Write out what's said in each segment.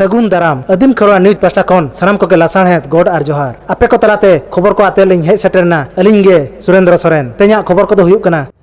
ᱥᱟᱹᱜᱩᱱ ᱫᱟᱨᱟᱢ ᱟᱹᱫᱤᱢ ᱠᱷᱚᱨᱣᱟ ᱱᱤᱭᱩᱡᱽ ᱯᱟᱥᱴᱟ ᱠᱷᱚᱱ ᱥᱟᱱᱟᱢ ᱠᱚᱜᱮ ᱞᱟᱥᱟᱬᱦᱮᱫ ᱜᱚᱰ ᱟᱨ ᱡᱚᱦᱟᱨ ᱟᱯᱮ ᱠᱚ ᱛᱟᱞᱟᱛᱮ ᱠᱷᱚᱵᱚᱨ ᱠᱚ ᱟᱛᱮ ᱞᱤᱧ ᱦᱮᱡ ᱥᱮᱴᱮᱨᱱᱟ ᱟᱹᱞᱤᱧ ᱜᱮ ᱥᱩᱨᱮᱱᱫᱨᱚ ᱥᱚᱨᱮᱱ ᱛᱮᱦᱮᱧᱟᱜ ᱠᱷᱚᱵᱚᱨ ᱠᱚᱫᱚ ᱦᱩᱭᱩᱜ ᱠᱟᱱᱟ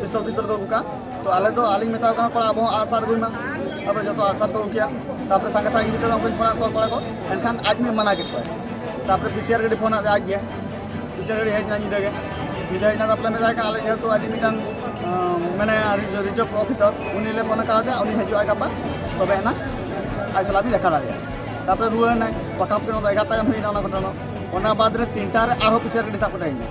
ᱯᱤᱥᱛᱚᱞ ᱯᱤᱥᱛᱚᱞ ᱠᱚ ᱟᱹᱜᱩ ᱠᱟᱜᱼᱟ ᱛᱚ ᱟᱞᱮ ᱫᱚ ᱟᱹᱞᱤᱧ ᱢᱮᱛᱟᱣ ᱠᱟᱱᱟ ᱠᱚᱲᱟ ᱟᱵᱚ ᱦᱚᱸ ᱟᱜᱼᱥᱟᱨ ᱟᱹᱜᱩᱭ ᱢᱟ ᱟᱵᱚ ᱡᱚᱛᱚ ᱟᱜᱼᱥᱟᱨ ᱠᱚ ᱟᱹᱜᱩ ᱠᱮᱜᱼᱟ ᱛᱟᱯᱚᱨᱮ ᱥᱟᱸᱜᱮ ᱥᱟᱸᱜᱮ ᱜᱤᱫᱽᱨᱟᱹ ᱩᱱᱠᱩᱧ ᱯᱷᱳᱱᱟᱫ ᱠᱚᱣᱟ ᱠᱚᱲᱟ ᱠᱚ ᱮᱱᱠᱷᱟᱱ ᱟᱡ ᱢᱤᱫ ᱢᱟᱱᱟ ᱠᱮᱫ ᱠᱚᱣᱟ ᱛᱟᱯᱚᱨᱮ ᱯᱤ ᱥᱤ ᱟᱨ ᱜᱟᱹᱰᱤ ᱯᱷᱳᱱᱟᱫ ᱟᱡ ᱜᱮ ᱯᱤ ᱥᱤ ᱟᱨ ᱜᱟᱹᱰᱤ ᱦᱮᱡ ᱮᱱᱟ ᱧᱤᱫᱟᱹ ᱜᱮ ᱧᱤᱫᱟᱹ ᱦᱮᱡ ᱮᱱᱟ ᱛᱟᱯᱚᱨᱮ ᱢᱮᱛᱟᱭ ᱠᱟᱱᱟ ᱟᱞᱮ ᱡᱮᱦᱮᱛᱩ ᱟᱹᱰᱤ ᱢᱤᱫᱴᱟᱝ ᱢᱟᱱᱮ ᱨᱤᱡᱟᱨᱵᱷ ᱚᱯᱷᱤᱥᱟᱨ ᱩᱱᱤ ᱞᱮ ᱯᱷᱳᱱ ᱟᱠᱟᱫᱮᱭᱟ ᱩᱱᱤ ᱦᱤᱡᱩᱜᱼᱟ ᱜᱟᱯᱟ ᱛᱚᱵᱮ ᱮᱱᱟ ᱟᱡ ᱥᱟᱞᱟᱜ ᱵᱤᱱ ᱫᱮᱠᱷᱟ ᱫᱟᱲᱮᱭᱟᱜᱼᱟ ᱛᱟᱯᱚᱨᱮ ᱨᱩᱣᱟᱹᱲ ᱮᱱᱟᱭ ᱯᱟᱠᱟ ᱯᱟᱠᱤ ᱮᱜᱟᱨᱚᱴᱟ ᱜᱟᱱ ᱦᱩᱭᱱᱟ ᱚᱱᱟ ᱜᱷᱚᱴᱚᱱᱟ ᱚᱱᱟ ᱵᱟᱫᱽ ᱨᱮ ᱛᱤᱱᱴᱟ ᱨᱮ ᱟᱨᱦᱚᱸ ᱯᱤ ᱥᱤ ᱟᱨ ᱜᱟᱹᱰᱤ ᱥᱟᱵ ᱠᱟᱛᱮ ᱦᱮᱡ ᱮᱱᱟᱭ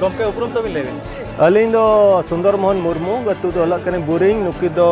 ᱜᱚᱢᱠᱮ ᱩᱯᱨᱩᱢ ᱛᱟᱹᱵᱤᱱ ᱞᱟᱹᱭ ᱵᱤᱱ ᱟᱹᱞᱤᱧ ᱫᱚ ᱥᱩᱱᱫᱚᱨ ᱢᱳᱦᱚᱱ ᱢᱩᱨᱢᱩ ᱟᱹᱛᱩ ᱫᱚ ᱦᱩᱭᱩᱜ ᱠᱟᱱᱟ ᱵᱩᱨᱤᱝ ᱱᱩᱠᱤᱱ ᱫᱚ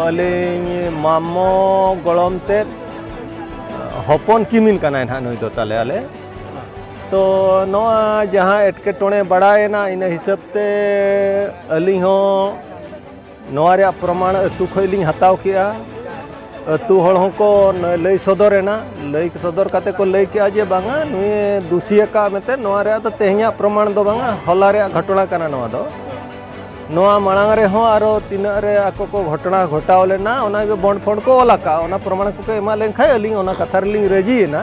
ᱟᱹᱞᱤᱧ ᱢᱟᱢᱚ ᱜᱚᱲᱚᱢ ᱛᱮᱫ ᱦᱚᱯᱚᱱ ᱠᱤᱢᱤᱱ ᱠᱟᱱᱟᱭ ᱱᱟᱦᱟᱜ ᱱᱩᱭ ᱫᱚ ᱛᱟᱞᱮ ᱟᱞᱮ ᱛᱚ ᱱᱚᱣᱟ ᱡᱟᱦᱟᱸ ᱮᱴᱠᱮᱴᱚᱬᱮ ᱵᱟᱲᱟᱭᱮᱱᱟ ᱤᱱᱟᱹ ᱦᱤᱥᱟᱹᱵ ᱛᱮ ᱟᱹᱞᱤᱧ ᱦᱚᱸ ᱱᱚᱣᱟ ᱨᱮᱭᱟᱜ ᱯᱨᱚᱢᱟᱬ ᱟᱹᱛᱩ ᱠᱷᱚᱱ ᱞᱤᱧ ᱦᱟᱛᱟᱣ ᱠᱮᱜᱼᱟ ᱟᱹᱛᱩ ᱦᱚᱲ ᱦᱚᱸᱠᱚ ᱞᱟᱹᱭ ᱥᱚᱫᱚᱨ ᱮᱱᱟ ᱞᱟᱹᱭ ᱥᱚᱫᱚᱨ ᱠᱟᱛᱮ ᱠᱚ ᱞᱟᱹᱭ ᱠᱮᱜᱼᱟ ᱡᱮ ᱵᱟᱝᱟ ᱱᱩᱭ ᱫᱩᱥᱤ ᱟᱠᱟᱫ ᱢᱮᱱᱛᱮ ᱱᱚᱣᱟ ᱨᱮᱭᱟᱜ ᱫᱚ ᱛᱮᱦᱮᱧᱟᱜ ᱯᱨᱚᱢᱟᱬ ᱫᱚ ᱵᱟᱝᱟ ᱦᱚᱞᱟ ᱨᱮᱭᱟᱜ ᱜᱷᱚᱴᱚᱱᱟ ᱠᱟᱱᱟ ᱱᱚᱣᱟ ᱫᱚ ᱱᱚᱣᱟ ᱢᱟᱲᱟᱝ ᱨᱮᱦᱚᱸ ᱟᱨᱚ ᱛᱤᱱᱟᱹᱜ ᱨᱮ ᱟᱠᱚ ᱠᱚ ᱜᱷᱚᱴᱚᱱᱟ ᱜᱷᱚᱴᱟᱣ ᱞᱮᱱᱟ ᱚᱱᱟᱜᱮ ᱵᱚᱱᱰ ᱯᱷᱚᱱᱰ ᱠᱚ ᱚᱞ ᱟᱠᱟᱫᱼᱟ ᱚᱱᱟ ᱯᱨᱚᱢᱟᱬ ᱠᱚᱠᱚ ᱮᱢᱟ ᱞᱮᱱᱠᱷᱟᱱ ᱟᱹᱞᱤᱧ ᱚᱱᱟ ᱠᱟᱛᱷᱟ ᱨᱮᱞᱤᱧ ᱨᱟᱹᱡᱤᱭᱮᱱᱟ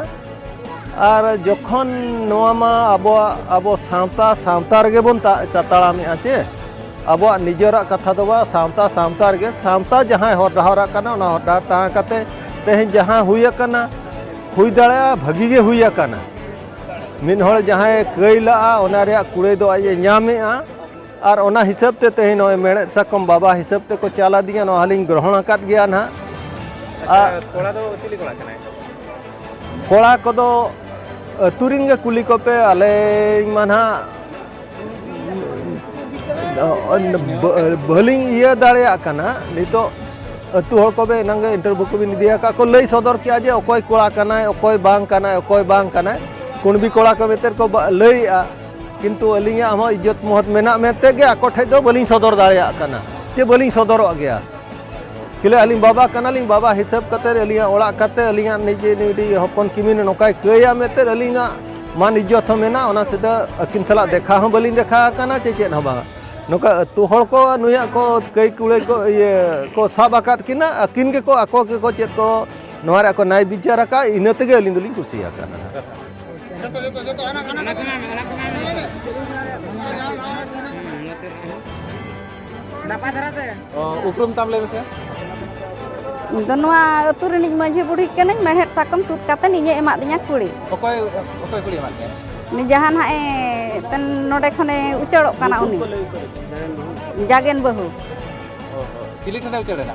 ᱟᱨ ᱡᱚᱠᱷᱚᱱ ᱱᱚᱣᱟ ᱢᱟ ᱟᱵᱚᱣᱟᱜ ᱟᱵᱚ ᱥᱟᱶᱛᱟ ᱥᱟᱶᱛᱟ ᱨᱮᱜᱮ ᱵᱚᱱ ᱛᱟᱲᱟᱢᱮᱜᱼᱟ ᱪᱮ ᱟᱵᱚᱣᱟᱜ ᱱᱤᱡᱮᱨᱟᱜ ᱠᱟᱛᱷᱟ ᱫᱚ ᱵᱟᱝ ᱥᱟᱶᱛᱟ ᱥᱟᱶᱛᱟ ᱨᱮᱜᱮ ᱥᱟᱶᱛᱟ ᱡᱟᱦᱟᱸᱭ ᱦᱚᱨ ᱰᱟᱦᱟᱨᱟᱜ ᱠᱟᱱᱟ ᱚᱱᱟ ᱦᱚᱨ ᱰᱟᱦᱟᱨ ᱛᱟᱦᱮᱸ ᱠᱟᱛᱮ ᱛᱮᱦᱮᱧ ᱡᱟᱦᱟᱸ ᱦᱩᱭ ᱟᱠᱟᱱᱟ ᱦᱩᱭ ᱫᱟᱲᱮᱭᱟᱜᱼᱟ ᱵᱷᱟᱹᱜᱤ ᱜᱮ ᱦᱩᱭ ᱟᱠᱟᱱᱟ ᱢᱤᱫ ᱦᱚᱲ ᱡᱟᱦᱟᱸᱭ ᱠᱟᱹᱭ ᱞᱟᱜᱼᱟ ᱚᱱᱟ ᱨᱮᱭᱟᱜ ᱠᱩᱲᱟᱹᱭ ᱫᱚ ᱟᱡ ᱮ ᱧᱟᱢᱮᱜᱼᱟ ᱟᱨ ᱚᱱᱟ ᱦᱤᱥᱟᱹᱵ ᱛᱮ ᱛᱮᱦᱮᱧ ᱱᱚᱜᱼᱚᱭ ᱢᱮᱬᱦᱮᱫ ᱥᱟᱠᱚᱢ ᱵᱟᱵᱟ ᱦᱤᱥᱟᱹᱵ ᱛᱮᱠᱚ ᱪᱟᱞ ᱟᱹᱫᱤᱧᱟ ᱱᱚᱣᱟ ᱦᱚᱸᱞᱤᱧ ᱜᱨᱚᱦᱚᱬ ᱟᱠᱟᱫ ᱜᱮᱭᱟ ᱱᱟᱦᱟᱜ ᱠᱚᱲᱟ ᱫᱚ ᱪᱤᱞᱤ ᱠᱚᱲᱟ ᱠᱟᱱᱟᱭ ᱠᱚᱲᱟ ᱠᱚᱫᱚ ᱟᱹᱛᱩ ᱨᱮᱱ ᱜᱮ ᱠᱩᱞᱤ ᱠᱚᱯᱮ ᱟᱞᱮ ᱢᱟ ᱱᱟᱦᱟᱜ ᱵᱷᱟᱹᱞᱤᱧ ᱤᱭᱟᱹ ᱫᱟᱲᱮᱭᱟᱜ ᱠᱟᱱᱟ ᱱᱤᱛᱚᱜ ᱟᱹᱛᱩ ᱦᱚᱲ ᱠᱚᱵᱮ ᱮᱱᱟᱝ ᱜᱮ ᱤᱱᱴᱟᱨᱵᱷᱤᱭᱩ ᱠᱚᱵᱤᱱ ᱤᱫᱤ ᱟᱠᱟᱫ ᱠᱚ ᱞᱟᱹᱭ ᱥᱚᱫᱚᱨ ᱠᱮᱜᱼᱟ ᱡᱮ ᱚᱠᱚᱭ ᱠᱚᱲᱟ ᱠᱟᱱᱟᱭ ᱚᱠᱚᱭ ᱵᱟᱝ ᱠᱟᱱᱟᱭ ᱚᱠᱚᱭ ᱵᱟᱝ ᱠᱟᱱᱟᱭ ᱠᱩᱬᱵᱤ ᱠᱚᱲᱟ ᱠᱚ ᱢᱮᱛᱮ ᱠᱚ ᱞᱟᱹᱭᱮᱜᱼᱟ ᱠᱤᱱᱛᱩ ᱟᱹᱞᱤᱧᱟᱜ ᱦᱚᱸ ᱤᱡᱽᱡᱚᱛ ᱢᱚᱦᱚᱛ ᱢᱮᱱᱟᱜ ᱢᱮᱱᱛᱮ ᱜᱮ ᱟᱠᱚ ᱴᱷᱮᱡ ᱫᱚ ᱵᱟᱹᱞᱤᱧ ᱥᱚᱫᱚᱨ ᱫᱟᱲᱮᱭᱟᱜ ᱠᱟᱱᱟ ᱪᱮ ᱵᱟᱹᱞᱤᱧ ᱥᱚᱫᱚᱨᱚᱜ ᱜᱮᱭᱟ ᱠᱤᱞᱟᱹ ᱟᱹᱞᱤᱧ ᱵᱟᱵᱟ ᱠᱟᱱᱟᱞᱤᱧ ᱵᱟᱵᱟ ᱦᱤᱥᱟᱹᱵ ᱠᱟᱛᱮ ᱟᱹᱞᱤᱧᱟᱜ ᱚᱲᱟᱜ ᱠᱟᱛᱮ ᱟᱹᱞᱤᱧᱟᱜ ᱱᱤᱡᱮ ᱱᱤᱡᱮ ᱦᱚᱯᱚᱱ ᱠᱤᱢᱤᱱ ᱱᱚᱝᱠᱟᱭ ᱠᱟᱹᱭᱟ ᱢᱮᱱᱛᱮ ᱟᱹᱞᱤᱧᱟᱜ ᱢᱟᱱ ᱤᱡᱽᱡᱚᱛ ᱦᱚᱸ ᱢᱮᱱᱟᱜᱼᱟ ᱚᱱᱟ ᱥᱮᱫ ᱟᱹᱠᱤᱱ ᱥᱟᱞᱟᱜ ᱫᱮᱠᱷᱟ ᱦᱚᱸ ᱵᱟᱹᱞᱤᱧ ᱫᱮᱠᱷᱟ ᱟᱠᱟᱱᱟ ᱪᱮ ᱪᱮᱫ ᱦᱚᱸ ᱵᱟᱝ ᱱᱚᱝᱠᱟ ᱟᱹᱛᱩ ᱦᱚᱲ ᱠᱚ ᱱᱩᱭᱟᱜ ᱠᱚ ᱠᱟᱹᱭ ᱠᱩᱲᱟᱹᱭ ᱠᱚ ᱤᱭᱟᱹ ᱠᱚ ᱥᱟᱵ ᱟᱠᱟᱫ ᱠᱤᱱᱟ ᱟᱹᱠᱤᱱ ᱜᱮᱠᱚ ᱟᱠᱚ ᱜᱮᱠᱚ ᱪᱮᱫ ᱠᱚ ᱱᱚᱣᱟ ᱨᱮ ᱟᱠᱚ ᱱᱟᱭ ᱵᱤᱪᱟᱨ ᱟᱠᱟᱫ ᱤᱱᱟᱹ ᱛᱮᱜᱮ ᱟᱹᱞᱤᱧ ᱫᱚᱞᱤᱧ ᱠᱩᱥᱤ ᱟᱠᱟᱱᱟ ᱡᱚᱛᱚ ᱡᱚᱛᱚ ᱡᱚᱛᱚ ᱟᱱᱟ ᱟᱱᱟ ᱟᱱᱟ ᱟᱱᱟ ᱱᱟᱯᱟᱭ ᱫᱷᱟᱨᱟ ᱛᱮ ᱩᱯᱨᱩᱢ ᱛᱟᱢ ᱞᱟᱹᱭ ᱢᱮᱥᱮ ᱤᱧ ᱫᱚ ᱱᱚᱣᱟ ᱟᱹᱛᱩ ᱨᱤᱱᱤᱡ ᱢᱟᱹᱡᱷᱤ ᱵᱩᱲᱦᱤ ᱠᱟᱹᱱᱟᱹᱧ ᱢᱮᱲᱦᱮᱫ ᱥᱟᱠᱚᱢ ᱛᱩᱫ ᱠᱟᱛᱮ ᱤᱧᱮ ᱮᱢᱟᱫ ᱫᱤᱧᱟ ᱠᱩᱲᱤ ᱚᱠᱚᱭ ᱚᱠᱚᱭ ᱠᱩᱲᱤ ᱮᱢᱟᱫ ᱢᱮᱭᱟ ᱩᱱᱤ ᱡᱟᱦᱟᱸ ᱱᱟᱜ ᱮ ᱛᱮᱱ ᱱᱚᱰᱮ ᱠᱷᱚᱱᱮ ᱩᱪᱟᱹᱲᱚᱜ ᱠᱟᱱᱟ ᱩᱱᱤ ᱡᱟᱜᱮᱱ ᱵᱟᱹᱦᱩ ᱪᱤᱞᱤ ᱴᱷᱮᱱᱮ ᱩᱪᱟᱹᱲᱮᱱᱟ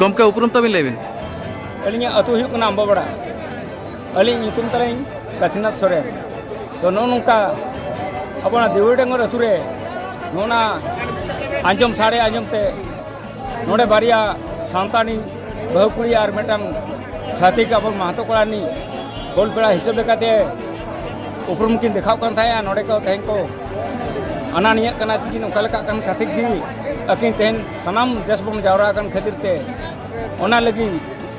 ᱜᱚᱢᱠᱮ ᱩᱯᱨᱩᱢ ᱛᱟᱵᱤᱱ ᱞᱟᱹᱭ ᱵᱤᱱ ᱟᱹᱞᱤᱧᱟᱜ ᱟᱹᱛᱩ ᱦᱩᱭᱩᱜ ᱠᱟᱱᱟ ᱟᱢᱵᱟᱵᱟᱲᱟ ᱟᱹᱞᱤᱧ ᱧᱩᱛᱩᱢ ᱛᱟᱹᱞᱤᱧ ᱠᱟᱹᱛᱷᱤᱱᱟᱛᱷ ᱥᱚᱨᱮᱱ ᱛᱚ ᱱᱚᱜᱼᱚ ᱱᱚᱝᱠᱟ ᱟᱵᱚ ᱚᱱᱟ ᱫᱮᱣᱩᱞ ᱰᱟᱸᱜᱚᱨ ᱟᱹᱛᱩ ᱨᱮ ᱱᱚᱜᱼᱚ ᱱᱟ ᱟᱸᱡᱚᱢ ᱥᱟᱰᱮ ᱟᱸᱡᱚᱢ ᱛᱮ ᱱᱚᱰᱮ ᱵᱟᱨᱭᱟ ᱥᱟᱱᱛᱟᱲᱤ ᱵᱟᱹᱦᱩ ᱠᱩᱲᱤ ᱟᱨ ᱢᱤᱫᱴᱟᱝ ᱪᱷᱟᱹᱛᱤᱠ ᱟᱵᱚ ᱢᱟᱦᱟᱛᱚ ᱠᱚᱲᱟ ᱨᱤᱱᱤᱡ ᱜᱳᱞ ᱯᱮᱲᱟ ᱦᱤᱥᱟᱹᱵ ᱞᱮᱠᱟᱛᱮ ᱩᱯᱨᱩᱢ ᱠᱤᱱ ᱫᱮᱠᱷᱟᱣ ᱠᱟᱱ ᱛᱟᱦᱮᱸᱜᱼᱟ ᱱᱚᱰᱮ ᱠᱚ ᱛᱮᱦᱮᱧ ᱠᱚ ᱟᱱᱟ ᱱᱤᱭᱟᱹᱜ ᱠᱟᱱᱟ ᱛᱤᱠᱤᱱ ᱚᱠᱟ ᱞᱮᱠᱟᱜ ᱠᱟᱱ ᱠᱷᱟᱹᱛᱤᱨ ᱜᱮ ᱟᱹᱠᱤᱱ ᱛᱮᱦᱮᱧ ᱥᱟᱱᱟᱢ ᱫᱮᱥ ᱵᱚᱱ ᱡᱟᱣᱨᱟ ᱟᱠᱟᱱ ᱠᱷᱟᱹᱛᱤᱨ ᱛᱮ ᱚᱱᱟ ᱞᱟᱹᱜᱤᱫ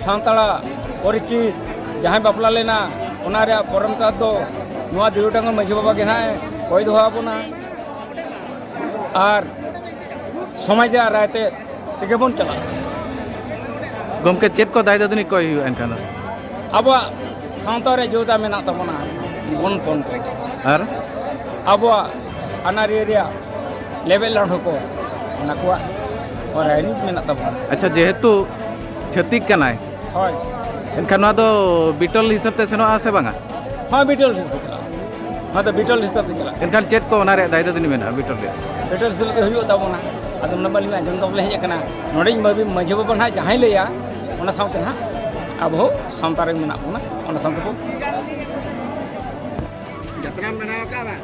ᱥᱟᱱᱛᱟᱲᱟᱜ ᱯᱚᱨᱤᱪᱤᱛ ᱡᱟᱦᱟᱸᱭ ᱵᱟᱯᱞᱟ ᱞᱮᱱᱟ ᱚᱱᱟ ᱨᱮᱭᱟᱜ ᱯᱚᱨᱚᱢᱯᱚᱨᱟ ᱫᱚ ᱱᱚᱣᱟ ᱫᱤᱣᱟᱹᱰᱟᱝᱜᱟ ᱢᱟᱹᱡᱷᱤ ᱵᱟᱵᱟ ᱜᱮ ᱱᱟᱦᱟᱜ ᱠᱚᱭ ᱫᱚᱦᱚ ᱟᱵᱚᱱᱟ ᱟᱨ ᱥᱚᱢᱟᱡᱽ ᱨᱮᱭᱟᱜ ᱨᱟᱭ ᱛᱮ ᱛᱮᱜᱮ ᱵᱚᱱ ᱪᱟᱞᱟᱜᱼᱟ ᱜᱚᱢᱠᱮ ᱪᱮᱫ ᱠᱚ ᱫᱟᱭ ᱫᱟᱹᱫᱩᱱᱤ ᱠᱚᱭ ᱦᱩᱭᱩᱜᱼᱟ ᱮᱱᱠᱷᱟᱱ ᱫᱚ ᱟᱵᱚᱣᱟᱜ ᱥᱟᱶᱛᱟ ᱨᱮ ᱡᱳᱫᱟ ᱢᱮᱱᱟᱜ ᱛᱟᱵᱚᱱᱟ ᱵᱚᱱ ᱯᱚᱱ ᱠᱚ ᱟᱨ ᱟᱵᱚᱣᱟᱜ ᱟᱹᱱᱟᱹᱨᱤ ᱨᱮᱭᱟᱜ ᱞᱮᱵᱮᱞ ᱞᱟᱹᱰᱷᱩ ᱠᱚ ᱚᱱᱟ ᱠᱚᱣᱟᱜ ᱨᱟᱭᱨᱤᱛ ᱢᱮᱱᱟᱜ ᱛᱟᱵᱚᱱᱟ ᱟᱪᱪᱷᱟ ᱡᱮᱦᱮᱛᱩ ᱪᱷᱟᱹᱛᱤᱠ ᱠᱟᱱᱟᱭ ᱦᱳᱭ ᱮᱱᱠᱷᱟᱱ ᱱᱚᱣᱟ ᱫᱚ ᱵᱤᱴᱚᱞ ᱦᱤᱥᱟᱹᱵ ᱛᱮ ᱥᱮᱱᱚᱜᱼᱟ ᱥᱮ ᱵᱟᱝᱟ ᱦᱳᱭ ᱵᱤᱴᱚᱞ ᱦᱤᱥᱟᱹᱵ ᱛᱮ ᱪᱟᱞᱟᱜᱼᱟ ᱱᱚᱣᱟ ᱫᱚ ᱵᱤᱴᱚᱞ ᱦᱤᱥᱟᱹᱵ ᱛᱮ ᱪᱟᱞᱟᱜᱼᱟ ᱮᱱᱠᱷᱟᱱ ᱪᱮᱫ ᱠᱚ ᱚᱱᱟ ᱨᱮᱭᱟᱜ ᱫᱟᱭᱤᱛᱛᱚ ᱫᱤᱱ ᱢᱮᱱᱟᱜᱼᱟ ᱵᱤᱴᱚᱞ ᱨᱮᱭᱟᱜ ᱵᱤᱴᱚᱞ ᱦᱤᱥᱟᱹᱵ ᱛᱮ ᱦᱩᱭᱩᱜ ᱛᱟᱵᱚᱱᱟ ᱟᱫᱚ ᱚᱱᱟ ᱵᱟᱹᱞᱤᱧ ᱟᱸᱡᱚᱢ ᱫᱚ ᱵᱚᱞᱮ ᱦᱮᱡ ᱟᱠᱟᱱᱟ ᱱᱚᱰᱮᱧ ᱢᱟᱹᱵᱤ ᱢᱟᱹᱡᱷᱤ ᱵᱟᱵᱟ ᱱᱟᱦᱟᱜ ᱡᱟᱦᱟᱸᱭ ᱞᱟᱹᱭᱟ ᱚᱱᱟ ᱥᱟᱶᱛᱮ ᱱᱟᱦᱟᱜ ᱟᱵᱚ ᱦᱚᱸ ᱥᱟᱶᱛᱟ ᱨᱮ ᱢᱮᱱᱟᱜ ᱵᱚᱱᱟ ᱚᱱᱟ ᱥᱟᱶᱛᱮ ᱵᱚ ᱡᱟᱛᱨᱟᱢ ᱵᱮᱱᱟᱣ ᱟᱠᱟᱫᱼᱟ ᱵᱟᱝ